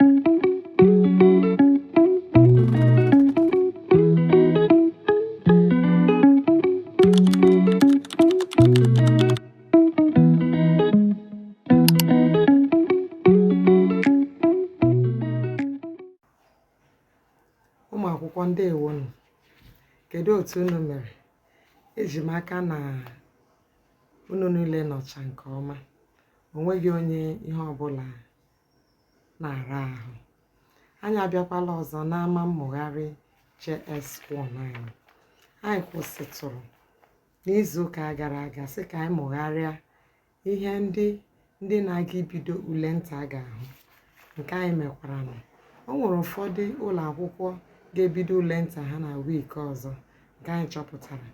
ụmụ akwụkwọ ndeewonụ kedu otu unu mere eji m aka na unu niile nọcha nke ọma o nweghị onye ihe ọbụla na-ara ahụ anyị abịakwala ọzọ n'ama mmụgharị JS1 anyị anyị kwụsịtụrụ n'izuụka gara aga sị ka anyị mụgharịa ihe ndị ndị na-aga ibido ule nta ga-ahụ nke anyị mekwara na o nwere ụfọdụ ụlọ akwụkwọ ga-ebido ule nta ha na wiiki ọzọ nke anyị chọpụtara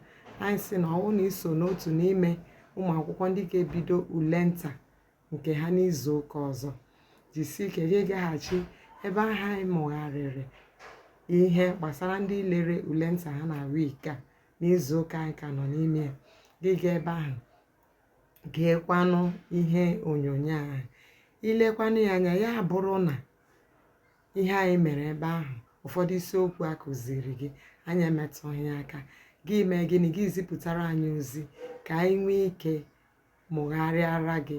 anyị sị na ọ bụrụ na i so n'otu n'ime ụmụ akwụkwọ ndị ga-ebido ule nta nke ha n'izu ụka ọzọ jisie ike gị gaghachi ebe ahụ anyị mụgharịrị ihe gbasara ndị lere ule nta ha na wik a n'izu ụka anyị ka nọ n'ime ya gị gaa ebe ahụ geekwanụ ihe onyonyo ahụ i lekwanụ ya anya ya bụrụ na ihe anyị mere ebe ahụ ụfọdụ isiokwu a kụziri gị anyị emetụghị ya aka gị mee gịnị gị zipụtara anyị ozi ka anyị nwee ike mụgharịara gị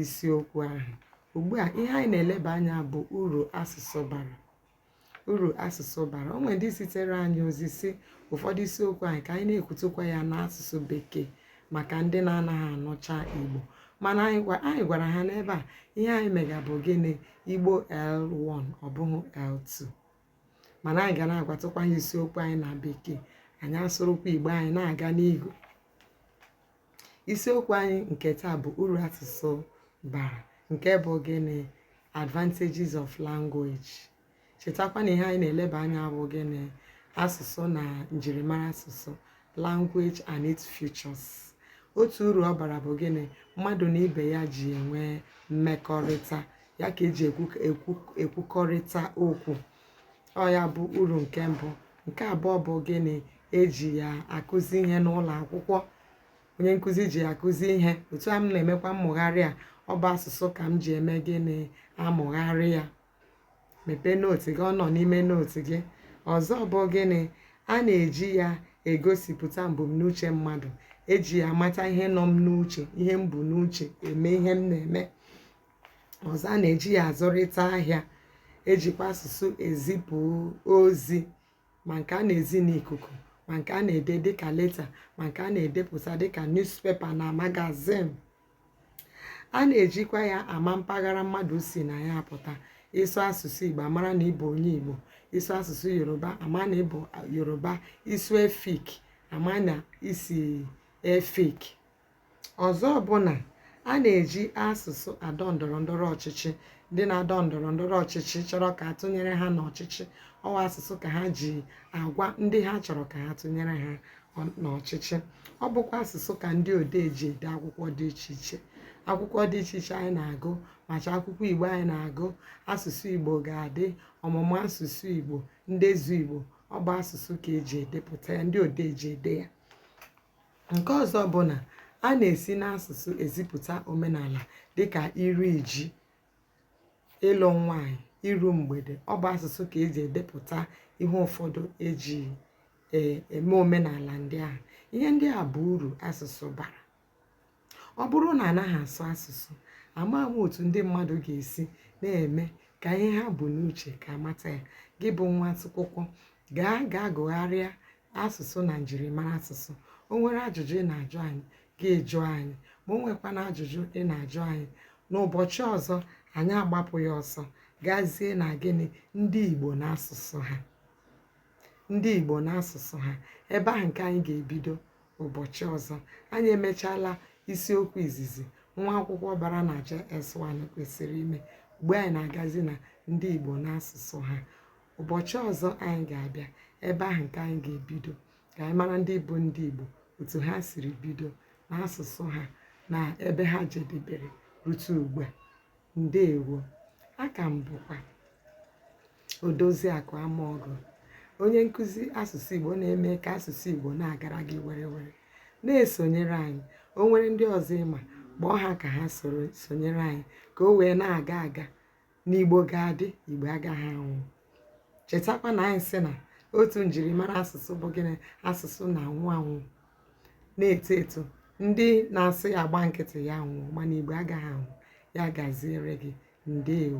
isiokwu ahụ ugbu a ihe anyị na-eleba anya bụ uru asụsụ bara uru asụsụ bara o nwere ndị zitere anyị ozi sị ụfọdụ isiokwu anyị ka anyị na-ekwutụkwa ya n'asụsụ bekee maka ndị na-anaghị anụcha igbo mana anyị gwa- anyị gwara ha na ebe a ihe anyị mega bụ gịnị igbo l1 ọ bụghị l2 mana anyị ga na-agwatụkwa ha isiokwu anyị na bekee anyị asụrụkwa igbo anyị na-aga n'ihu isiokwu anyị nke taa bụ uru asụsụ bara nke bụ gịnị advantages of language chetakwa na ihe anyị na-eleba anya bụ gịnị asụsụ na njirimara asụsụ language and its features otu uru ọ bara bụ gịnị mmadụ na ibe ya ji enwe mmekọrịta ya ka eji ekwukọrịta okwu ọ ya bụ uru nke mbụ nke abụọ bụ gịnị eji ya akụzi ihe n'ụlọ akwụkwọ onye nkụzi ji ya akụzi ihe otu a m na-emekwa mmụgharị a ọ bụ asụsụ ka m ji eme gịnị amụgharị ya mepee nootu gị ọ nọ n'ime nootu gị ọzọ bụ gịnị a na-eji ya egosipụta mbumnuche mmadụ eji ya amata ihe nọ m n'uche ihe m bu n'uche eme ihe m na-eme ọzọ a na-eji ya azụrịta ahịa ejikwa asụsụ ezipụ ozi ma nke a na-ezi n'ikuku ma nke a na-ede dịka leta ma nke a na-edepụta dịka newspaper na magazine a na-ejikwa ya ama mpaghara mmadụ si na ya apụta ị sụ asụsụ igbo a mara na ị bụ onye igbo ị sụ asụsụ yoruba a ma na ị bụ yoruba ị sụ efik a ma na i si efik Ọzọ bụ na a na-eji asụsụ adọ ndọrọ ndọrọ ọchịchị ndị na-adọ ndọrọ ndọrọ ọchịchị chọrọ ka a tụnyere ha n'ọchịchị ọ wụ asụsụ ka ha ji agwa ndị ha chọrọ ka ha tụnyere ha ọ- n'ọchịchị ọ bụkwa asụsụ ka ndị odee ji ede akwụkwọ dị iche iche akwụkwọ dị iche iche anyị na-agụ macha akwụkwọ igbo anyị na-agụ asụsụ igbo ga-adị ọmụmụ asụsụ igbo ndezu igbo ọ bụ asụsụ ka e ji edepụta ya ndị odee ji ede ya Nke ọzọ bụ na a na-esi n'asụsụ ezipụta omenala dịka iri ji, ịlụ nwaanyị, iru mgbede. Ọ bụ asụsụ ka e ji edepụta ihe ụfọdụ e ji eme omenala ndị ahụ. Ihe ndị a bụ uru asụsụ bara. Ọ bụrụ na anaghị asụ asụsụ, a ma ama otu ndị mmadụ ga-esi na-eme ka ihe ha bu n'uche ka a mata ya. Gị bụ nwa akwụkwọ, gaa gaa gụgharịa asụsụ na njirimara asụsụ. O nwere ajụjụ ị na-ajụ anyị, gị jụọ anyị. Ma o nwekwana ajụjụ ị na-ajụ anyị, n'ụbọchị ọzọ anyị agbapụ ya ọsọ gazie na gịnị ndị Igbo na asụsụ ha ebe ahụ nke anyị ga-ebido ụbọchị ọzọ anyị emechaala isiokwu izizi nwa akwụkwọ bara na JS1 kwesịrị ime ugbu a anyị na-agazi na ndị Igbo na asụsụ ha ụbọchị ọzọ anyị ga-abịa ebe ahụ nke anyị ga-ebido ka anyị mara ndị bụ ndị Igbo otu ha siri bido na asụsụ ha na ebe ha jedebere rute ugbu a Ndewo. A ka m bụkwa Odoziakụ Amaọgụ, onye nkụzi asụsụ Igbo na-eme ka asụsụ Igbo na-agara gị werewere. Na-esonyere anyị. O nwere ndị ọzọ ị ma, kpọọ ha ka ha soro sonyere anyị ka o wee na-aga aga. Na Igbo ga-adị, Igbo agaghị anwụ. Chetakwa na anyị sị na otu njirimara asụsụ bụ gịnị? Asụsụ na-anwụ anwụ. na-eto eto ndị na-asụ ya gba nkịtị ya nwụọ mana igbo agaghị anwụ ya gaziere gị ndewo